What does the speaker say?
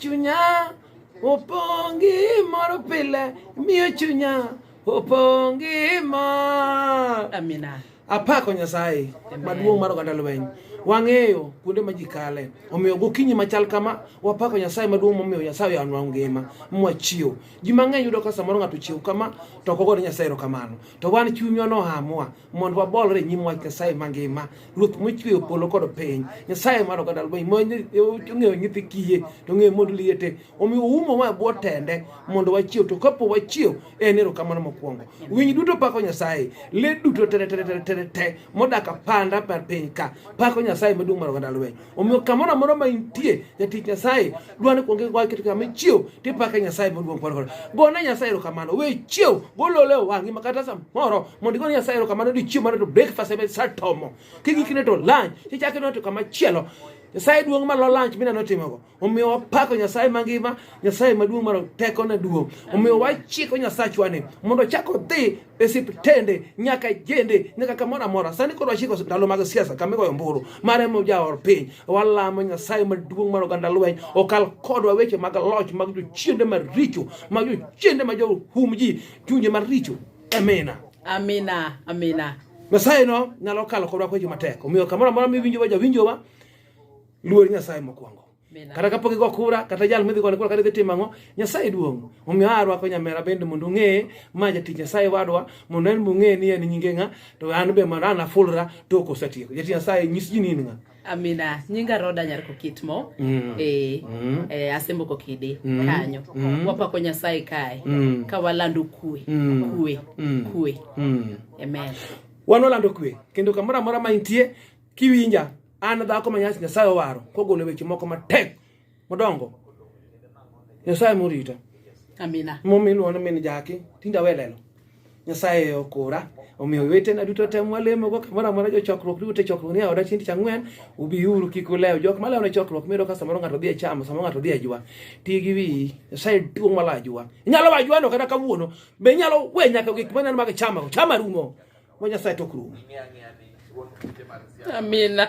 Chunya opongi mor pile miyo chunya opongi mor. Amina. Apako Nyasaye maduong' mar oganda lweny. Wang'eyo kuonde ma ji kale. Omiyo gokinyi machal kama wapako Nyasaye maduong' momiyo Nyasaye oyanwa ngima mwachiew. Ji mang'eny yudo ka samoro ng'ato chiew kama to ok ogoyo Nyasaye erokamano. To wan chunywa nohamwa mondo wabolre e nyim wach Nyasaye mangima ruoth mochweyo polo kod piny Nyasaye mar oganda lweny mong'eyo nyithi kiye to ng'eyo mond liete omiyo oumo ma bwo tende mondo wachiew to kapo wachiew en erokamano mokwongo winy duto pako Nyasaye le duto tereteretere modak apanda mar piny ka pako Nyasaye maduong' mar oganda lweny Omiyo kamoro amora ma intie jatich Nyasaye dwani kuonge gwa keto kama ichiew tipake Nyasaye maduong' kwar kwar. Gone Nyasaye erokamano. We chiew golole wang'i ma kata samoro mondo igone Nyasaye erokamano ni chiemo mane to breakfast ebe satomo. Kigikine to lunch tichake to kama chielo. Nyasaye duong' ma lo lunch mina notimogo. Omiyo wapako Nyasaye mangima, Nyasaye maduong' mar teko na duong'. Omiyo wachiko Nyasachwa ni mondo chako dhi esiptende nyaka jende nyaka kamoro amora sani koro wachiko ndalo mag siasa kama igoyo ombulu mar ema jaor piny walamo nyasaye maduong' mar oganda lweny okal kodwa weche mag loch mag jochiende maricho mag jochiende ma johum ji chunje maricho amina amina amina nyasaye no nyalo kalo kodwa kweche matek omiyo kamoro amora miwinjowa jawinjowa luor nyasaye mokwongo kata kapok igo kura kata jal midhi gone kura kata idhi timo ang'o nyasaye duong' omiyo a arwako nyamera bende mondo ong'eye ma jatich nyasaye wadwa mondo en bong'eye ni en nyinge ng'a to an be mondo an afulra tok osetieko jatich nyasaye nyis ji ni in ng'a Amina, nyinga Roda nyar Kokitmo mm. e, mm. e eh, asembo kokidi mm. kanyo mm. wapako Nyasaye kae mm. ka walando kue mm. kue mm. kue mm. amen. Wan walando kue kendo kamoro amora ma intie kiwinja An dhako ma nyasi Nyasaye owaro kogolo weche moko matek modongo. Nyasaye morita. Amina. Momiluona min jaki tinda welelo. Nyasaye okora omiyo wetena duto tem walemogo kamoro amora jochokruok duto e chokruok ni e aoda chieng' tich ang'wen ubiuru kik ulew jok malewo ne chokruok miyudo ka samoro ng'ato dhi e chamo samoro ng'ato dhi e jwa ti gi wiyi nyasaye duong' mala ajwa inyalo wa ajwano kata kawuono be inyalo we nyaka gik maneno mag chamago chama rumo Wach Nyasaye to ok rum. Amina.